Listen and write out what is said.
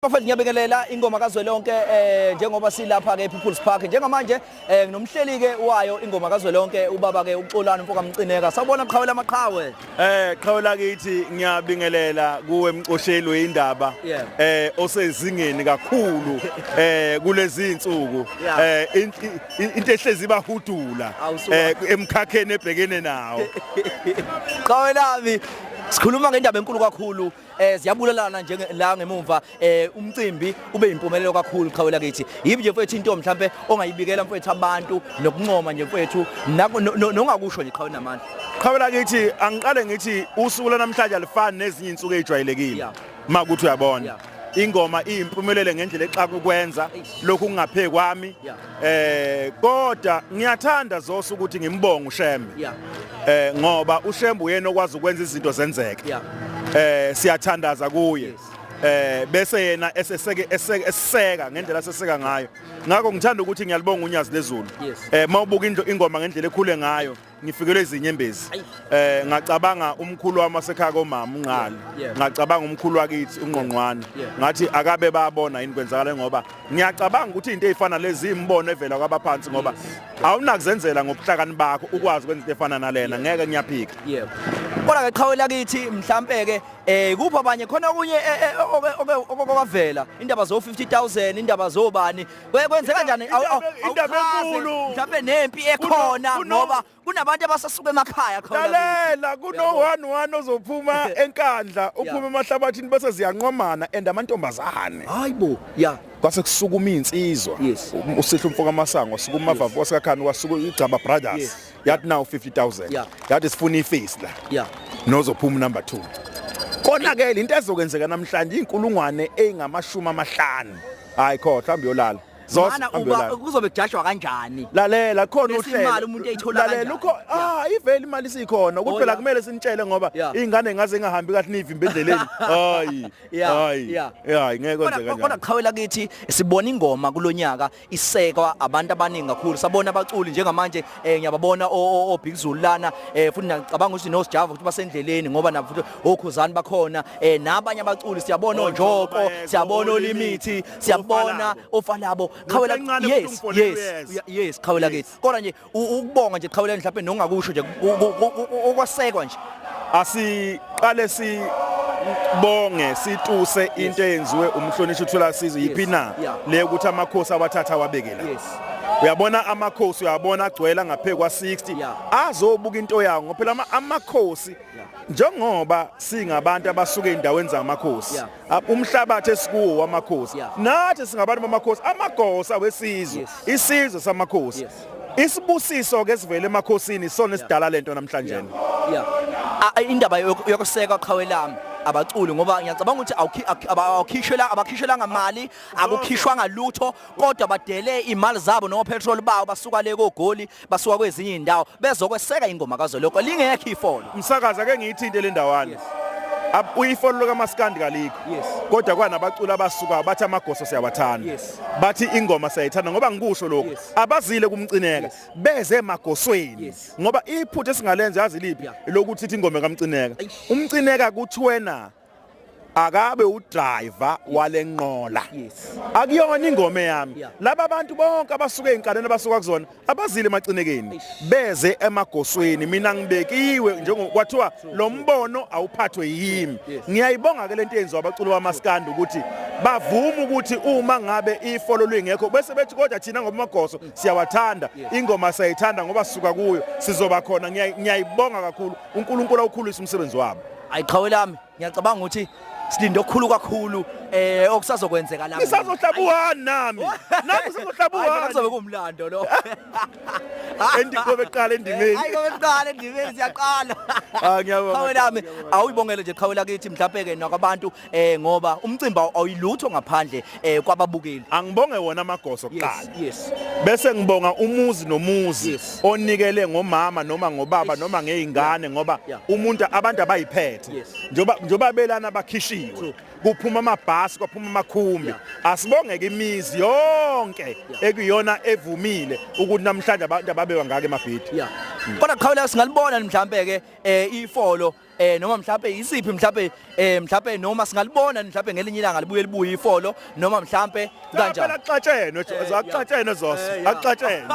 Bafethu ngiyabekelela ingoma kazwelonke eh njengoba silapha ke People's Park njengamanje eh nginomhleli ke wayo ingoma kazwelonke ubaba ke uXolani mfoka Mcineka sawubona qhawela amaqhawe eh qhawela kithi ngiyabingelela kuwe mcosheli weindaba eh osezingeni kakhulu eh kulezi insuku eh into ehlezi bahudula eh emkhakheni ebhekene nawo qhawelami sikhuluma ngendaba enkulu kakhulu eh ziyabulalana nje la ngemumva eh umcimbi ube impumelelo kakhulu qhawe lakithi yibi nje mfethu into mhlambe ongayibikela mfethu abantu nokuncoma nje mfethu nongakusho nje qhawe namandla qhawe lakithi angiqale ngithi usuku lanamhlanje alifani nezinye insuku ezijwayelekile makuthi uyabona ingoma iyimpumelele ngendlela exaka ukwenza lokhu kungapheki kwami Eh kodwa ngiyathanda Zoso ukuthi ngimbonge uShembe. Yeah. Eh ngoba uShembe uyena okwazi ukwenza izinto zenzeke. Yeah. Eh siyathandaza kuye. Yes. eh bese yena eseseke eseka ngendlela seseka ngayo ngakho ngithanda ukuthi ngiyalibonga unyazi lezulu eh mawubuka ingoma ngendlela ekhule ngayo ngifikelwe izinyembezi eh ngacabanga umkhulu wami wasekhaya komama unqali ngacabanga umkhulu wakithi ungqongqwane ngathi akabe babona yini kwenzakala ngoba ngiyacabanga ukuthi into ezifana lezi imbono evela kwabaphansi ngoba awunakuzenzela ngobuhlakani bakho ukwazi ukwenza into efana nalena ngeke ngiyaphika yebo kodwa ke qhawe lakithi mhlambe ke eh kuphi abanye khona okunye eh, eh, okwavela indaba zo 50000 indaba zobani Kwenzeka njani? Indaba enkulu. Mhlawumbe nempi ekhona ngoba kunabantu abasasuka emakhaya khona. Lalela kuno 1-1 ozophuma enkandla uphume emahlabathini bese ziyanqomana and amantombazane. Hayibo, yeah. kwase kusukuma insizwa usihla umfoka masango sukuma vavu wasikakhani wasuka igcaba brothers yathi nawu 50000 Yeah. yathi sifuna ifesi la Yeah. nozophuma number 2 kona ke into ezokwenzeka namhlanje inkulungwane engamashumi amahlanu hayi kho mhlawumbe yolala Zos, Mana hambe uba yolala. kuzobe kujashwa kanjani? lalela khona Bese uhlelo. imali umuntu eyithola Lalela, kanjani? ukho- ah ivele imali sikhona ukuthi Oh, phela yeah. kumele sinitshele ngoba Yeah. ingane ngaze ingahambi kahle nivimbe endleleni hayi Yeah, hayi yeah. hayi ngeke Kodwa kwenzeka kodwa kanjani qhawela kithi sibona ingoma kulonyaka isekwa abantu abaningi kakhulu sabona abaculi njengamanje eh ngiyababona obig zulu lana eh futhi ngicabanga ukuthi no sjava ukuthi basendleleni ngoba nabo futhi okhuzani bakhona eh nabanye abaculi siyabona onjoko siyabona olimithi siyabona ofalabo khawela yes yes yes khawela kithi kodwa nje ukubonga nje qhawuleni mhlawumbe nongakusho nje ukwasekwa nje asiqale si bonge situse into eyenziwe umhlonishwa uthula sizo yiphi na le ukuthi amakhosi awathatha awabekela uyabona amakhosi uyabona agcwela ngaphe kwa 60 azobuka into yawo ngoba phela amakhosi njengoba singabantu abasuke endaweni zamakhosi umhlabathi esikuwo wamakhosi yeah. nathi singabantu bamakhosi amagosa wesizwe yes. isizwe samakhosi yes. isibusiso ke sivele emakhosini sona esidala yeah. lento namhlanje yeah. yeah. indaba yokuseka qhawe lami abaculi ngoba ngiyacabanga ukuthi awukhishela abakhishela ngamali akukhishwa ngalutho kodwa badele imali zabo no petrol bawo basuka le kogoli basuka kwezinye izindawo bezokweseka ingoma kazoloko lingekho ifolo umsakazi ake ngiyithinte le ndawana uyifolo lokamaskandi kalikho kodwa kwanabaculi abasuka bathi amagoso siyawathanda bathi ingoma siyayithanda ngoba ngikusho lokho abazile kumcineka beze emagosweni ngoba iphutha esingalenza yazi liphi lokuthi ithi ingoma kamcineka umcineka kuthiwena akabe udriver walenqola akuyona ingoma yami laba bantu bonke abasuka ezinkalweni abasuka kuzona abazile emacinekeni beze emagosweni mina ngibekiwe njengokwathiwa lo mbono awuphathwe yimi ngiyayibonga ke lento yenziwa abaculi bamaskandi ukuthi bavuma ukuthi uma ngabe ifolo lingekho bese bethi kodwa thina ngoba amagoso siyawathanda ingoma sayithanda ngoba sisuka kuyo sizoba khona ngiyayibonga kakhulu uNkulunkulu awukhulise umsebenzi wabo ayiqhawe lami ngiyacabanga ukuthi silinde okukhulu kakhulu eh okusazokwenzeka lapha ngisazohlaba uhani nami nami ngisazohlaba uhani hayi kuzobe kumlando lo endi kobe qala endimeni hayi kobe qala endimeni siyaqala ah ngiyabonga qhawe lami awuyibongele nje qhawe lakithi mhlawumbe ke nakabantu eh ngoba umcimbi awuyilutho ngaphandle eh kwababukeli angibonge wona amagoso kuqala yes, yes. bese ngibonga umuzi nomuzi yes. onikele ngomama noma ngobaba yes. noma ngeingane ngoba yeah. umuntu abantu abayiphethe yes. njoba njoba belana bakhishiwe kuphuma amabhasi kwaphuma amakhumbi yeah. asibongeke imizi yonke yeah. ekuyona evumile ukuthi namhlanje abantu ababewa ngake emabhidi yeah. mm. kodwa qhawula singalibona mhlambe ke eh ifolo eh noma mhlawumbe yisiphi mhlawumbe eh mhlawumbe noma singalibona mhlawumbe ngelinye ilanga libuye libuye ifolo noma mhlawumbe kanjani phela xatshenwe zaxatshenwe zoso axatshenwe